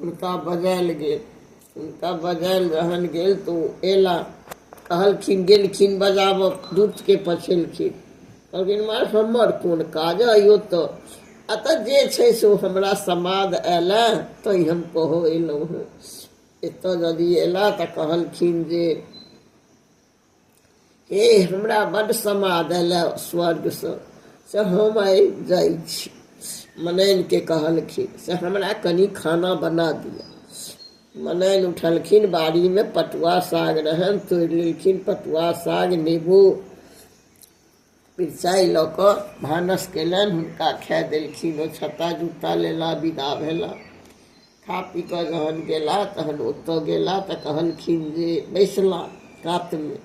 हुनका बजायल गेल हुनका बजायल जहन गेल तऽ ओ एला कहलखिन गेलखिन बजाबऽ दूतके पछेलखिन कहलखिन मार हमर कोन काज अइ ओतऽ अतऽ जे छै से ओ हमरा समाद आयल तै हम कहऽ एलहुँ हँ एतऽ यदि एला तऽ कहलखिन जे हे हमरा बड्ड समाद अयलै स्वर्गसँ से हम आइ जाइ छी मनैनके कहलखिन से हमरा कनि खाना बना दिअ मनैन उठलखिन बाड़ीमे पटुआ साग रहनि तोड़ि लेलखिन पटुआ साग नेबो मिरचाइ लऽ कऽ भानस कयलनि हुनका खाए देलखिन ओ छत्ता जुत्ता लेला विदा भेला खा पी कऽ जहन गेला तहन ओतऽ गेला तऽ कहलखिन जे बैसला कातमे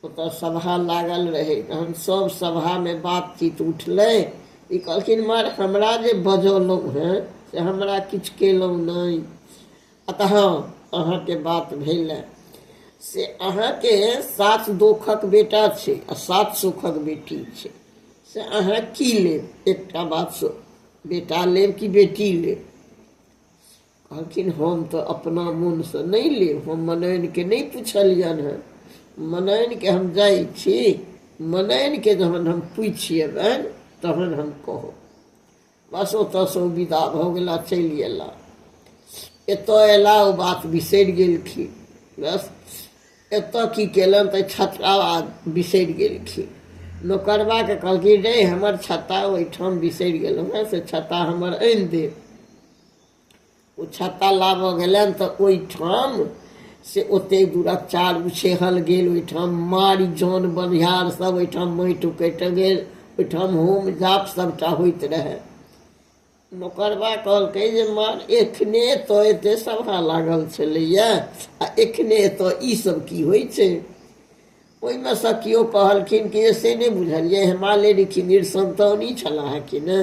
ओतऽ सभा लागल रहै तहन सभ सभामे बातचीत उठलै ई कहलखिन मर हमरा जे बजलहुँ हेँ से हमरा किछु कयलहुँ नहि अतः अहाँके बात भेल से अहाँके सात दोखक बेटा छै आ सात सुखक बेटी छै से अहाँ की लेब एकटा बात बेटा लेब कि बेटी लेब कहलखिन हम तऽ अपना मोनसँ नहि लेब हम मनैनके नहि पुछलियनि हेँ मनैनके हम जाइ छी मनैनके जहन हम पूछि अयबनि तहन हम कहब बस ओतऽसँ ओ विदा भऽ गेला चलि अयला एतय अयला ओ बात बिसरि गेलखिन बस एतय की केलनि तऽ छत्ता बिसरि गेलखिन नौकरबाके कहलखिन रे हमर छत्ता ओहिठाम बिसरि गेलहुँ हेँ से छत्ता हमर आनि देब ओ छत्ता लाबऽ गेलनि तऽ ओहिठाम से ओते दूरक चारू सेहल गेल ओहिठाम मारि जन बनिहार सब ओहिठाम माटि उकटि गेल ओहिठाम होम जाप सभटा होइत रहए नौकरबा कहलकै जे मार एखने तऽ एते सभा लागल छलैए आ एखने तऽ ईसभ की होइ छै ओहिमे सँ केओ कहलखिन कि जे से नहि बुझलियै हे माँ लेडीची निरसन्तानी छलाह कि ने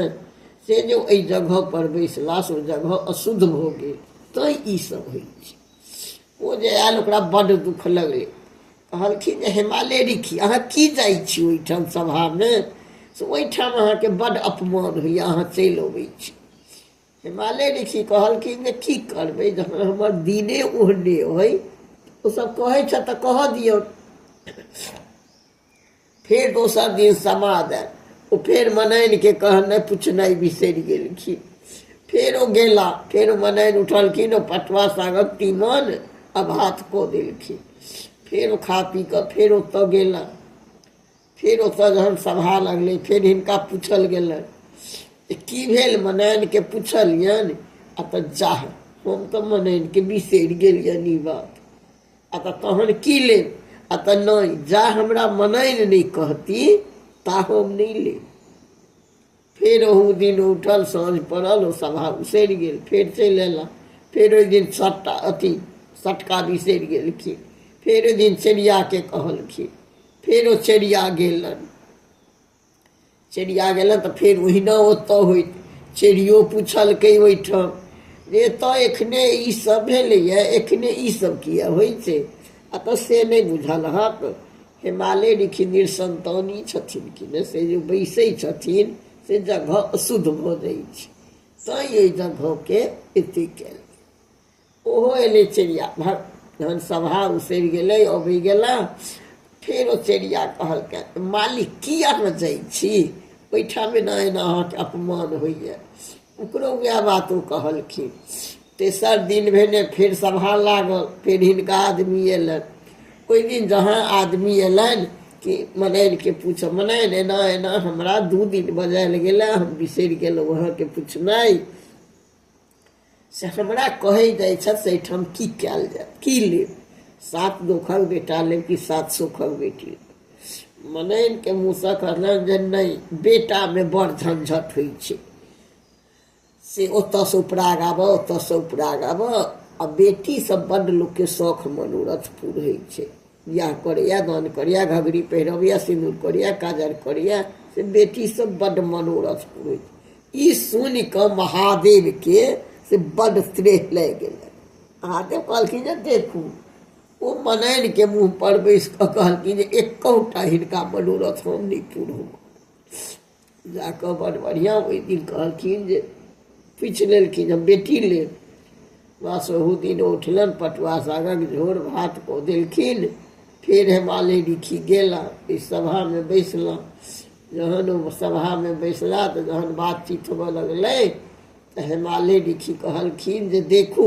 से जे एहि जगह पर बैसला से ओ जगह अशुद्ध भऽ गेल तैँ ई सब होइ छै ओ जे आयल ओकरा बड्ड दुःख लगलै कहलखिन जे हेमा लेडीची अहाँ की जाइ छी ओहिठाम सभामे से ओहिठाम अहाँके बड्ड अपमान होइए अहाँ चलि अबै छी हिमालय ऋषि कहलखिन जे की करबै जखन हमर दिने ओहने अइ ओसभ कहै छथि तऽ कहऽ दियौ फेर दोसर दिन समाद आयल ओ फेर मनैनके कहनाइ पुछनाइ बिसरि गेलखिन फेर ओ गेला फेर मनैन उठलखिन ओ पटुआ सागक तीमन आ भात कऽ देलखिन फेर ओ खा पी कऽ फेर ओतऽ गेला फेर ओतऽ जहन सभा लगलै फेर हिनका पूछल गेलनि जे की भेल मनैनके पुछलियनि आ तऽ जाह हम तऽ मनैनके बिसरि गेलियनि ई बात आ तऽ तहन की लेब आ तऽ नहि जा हमरा मनैन नहि कहती ता हम नहि लेब फेर ओहू दिन उठल साँझ पड़ल ओ सभा उसरि गेल फेर चलि अयला फेर ओहि दिन सट्टा अथी सटका बिसरि गेलखिन फेर ओहि दिन चेरियाके कहलखिन फेर ओ चेरिया गेलनि चेरिया गेलनि तऽ फेर ओहिना ओतऽ होइत चेरियो पुछलकै ओहिठाम जे एतऽ एखने ई सब भेलैए एखने ई सब किए होइ छै आ तऽ से नहि बुझल अहाँके हिमालय ऋखि निरसन्तानी छथिन कि ने से जे बैसै छथिन से जगह अशुद्ध भऽ जाइ छै तैँ ओहि जगहके एते कयल ओहो अयलै चिड़िया भर जहन सभा उसरि गेलै अबै गेला फेर ओ चिड़िया कहलकै मालिक की अहाँ जाइ छी ओहिठाम एना एना अहाँके अपमान होइए ओकरो उएह बात ओ कहलखिन तेसर दिन भेने फेर सभा लागल फेर हिनका आदमी अयलनि ओहि दिन जहाँ आदमी अयलनि कि मनैनके पूछब मनैन एना एना हमरा दू दिन बजायल गेलै हम बिसरि गेलहुँ अहाँके पूछनाइ से हमरा कहै जाइ छथि से एहिठाम की कयल जाय की लेब सात दोखक बेटा लेब कि सात सुखक बेटी लेब मनैनके मुँहसँ कहलनि जे नहि बेटामे बड़ झंझट होइ छै से ओतऽसँ उपराग आबऽ ओतऽसँ उपराग आबऽ आ बेटीसँ बड्ड लोकके शौख मनोरथ पूरै छै बियाह करैए दान करैए घघरी पहिरबैए सिन्दूर करैए काजर करैए से बेटीसँ बड्ड मनोरथ पूरै छै ई सुनि कऽ महादेवके से बड्ड त्रेह लागि गेलै महादेव कहलखिन जे देखू ओ मनैनके मुँहपर बैसि कऽ कहलखिन जे एकौटा हिनका मनोरथ हम नहि पूरब जा कऽ बड़ बढ़िआँ ओहि दिन कहलखिन जे पूछि लेलखिन हम बेटी लेल बस ओहू दिन उठलनि पटुआ सागक झोर भात कऽ देलखिन फेर हेमाले रिखी गेला ओहि सभामे बैसलहुँ जहन ओ सभामे बैसला तऽ जहन बातचीत होबऽ लगलै तऽ हेमाले रिखी कहलखिन जे देखू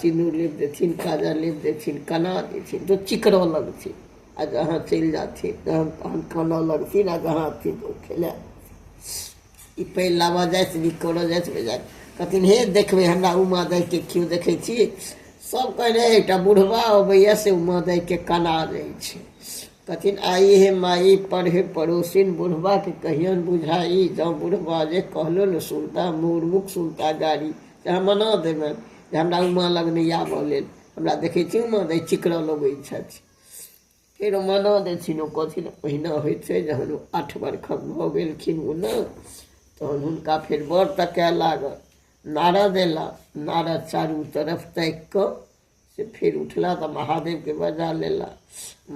सिनूर लेप देथिन काजा लेप देथिन कना देथिन तो चिकरा लगथिन आ जहाँ चलि जाथिन तहन तहन काना लगथिन आ जहाँ अथिन तो खेला ई पैर लाबऽ जाइत नीक करऽ जाइत बेजाइत कहथिन हे देखबै हमरा उमा दाइके केओ देखै छी सब कहने एकटा बुढ़बा अबैया से उमा दाइके कना दै छै कहथिन आई हे माई पढ़े पड़ोसिन बुढ़बाके कहियन बुझाई जँ बुढ़बा जे कहलो ने सुनता मुँह मुख सुनता गाड़ी अहाँ मना देबनि जे हमरा उमा लग नहि आबऽ लेल हमरा देखै छी उमा दै चिकरऽ लगै छथि फेर ओ मना देथिन ओ कहथिन ओहिना होइ छै जहन ओ आठ बरखक भऽ गेलखिन ओ ने तहन हुनका फेर बर तकए लागल नारद अयला नारद चारू तरफ ताकि कऽ से फेर उठला तऽ महादेवके बजा लेला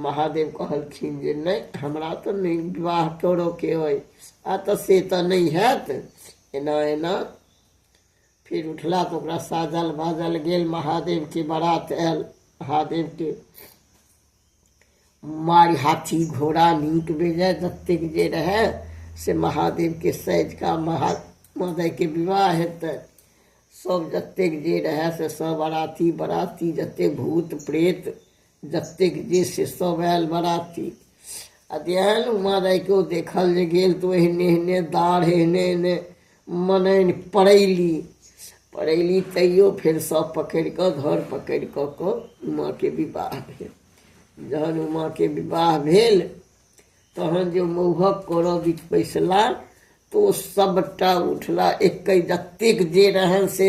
महादेव कहलखिन जे नहि हमरा तऽ नहि विवाह करऽके अइ आ तऽ से तऽ नहि हैत एना एना फिर उठला तो ओकरा साजल बाजल गेल महादेव के बारात आयल महादेव के मारि हाथी घोड़ा नीक बेजय जतेक जे रहै से महादेव के सैज का महा मदय के विवाह हेतै सब जतेक जे रहै से सब बराती बराती जतेक भूत प्रेत जतेक जे से सब आयल बराती आ जे आयल उमा रायके ओ देखल जे गेल तऽ एहने एहने दाढ़ एहने एहने मनैन पड़ैली पड़ैली तैयो फेर सब पकड़ि कऽ घर पकड़ि कऽ कऽ उमाके विवाह भेल जहन उमाके विवाह भेल तहन जे मौहक करऽ बीच बैसला तऽ ओ सभटा उठला एकै जतेक जे रहनि से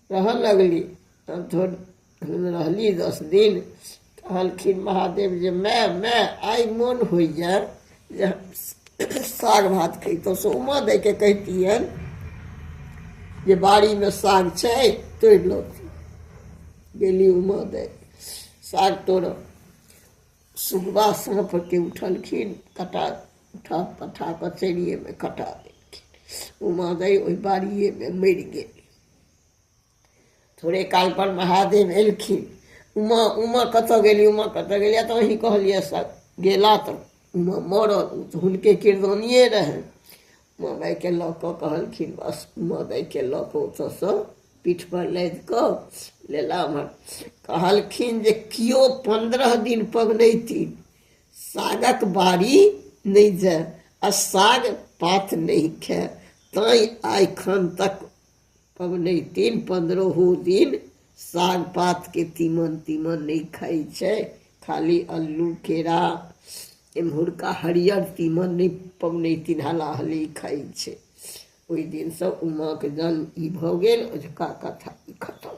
रहऽ लगली तब थोड़ रहली दस दिन कहलखिन महादेव जे माय माय आइ मोन होइ जाय जे साग भात खैतहुँ से उमा दैके कहितियनि जे बाड़ीमे साग छै तोड़ि लऽ गेली उमा दै साग तोड़ऽ सुगबा साँपके उठलखिन कटा उठा पठा कऽ चेरिएमे कटा देलखिन उमा दै ओहि बाड़िएमे मरि गेल थोड़े काल पर महादेव एलखिन उमा उमा कतऽ गेली उमा कतऽ गेली तऽ अहीं कहलियै सब गेला तऽ उमा मरल ओ तऽ हुनके किरदानिए रहनि उमा मायके लऽ कऽ कहलखिन बस उमा मायके लऽ कऽ ओतऽसँ पीठपर लादि कऽ लेला हमर कहलखिन जे केओ पन्द्रह दिन पबनैती सागक बाड़ी नहि जाय आ साग पात नहि खाय तैँ आइखन तक पबनैतिन पन्द्रहो दिन साग पातके तीमन तीमन नहि खाइ छै खाली अल्लू केरा एम्हुरका हरियर तीमन नहि पबनैतिन हला हली खाइ छै ओहि दिनसँ उमाके जन्म ई भऽ गेल अजुका कथा ई खतम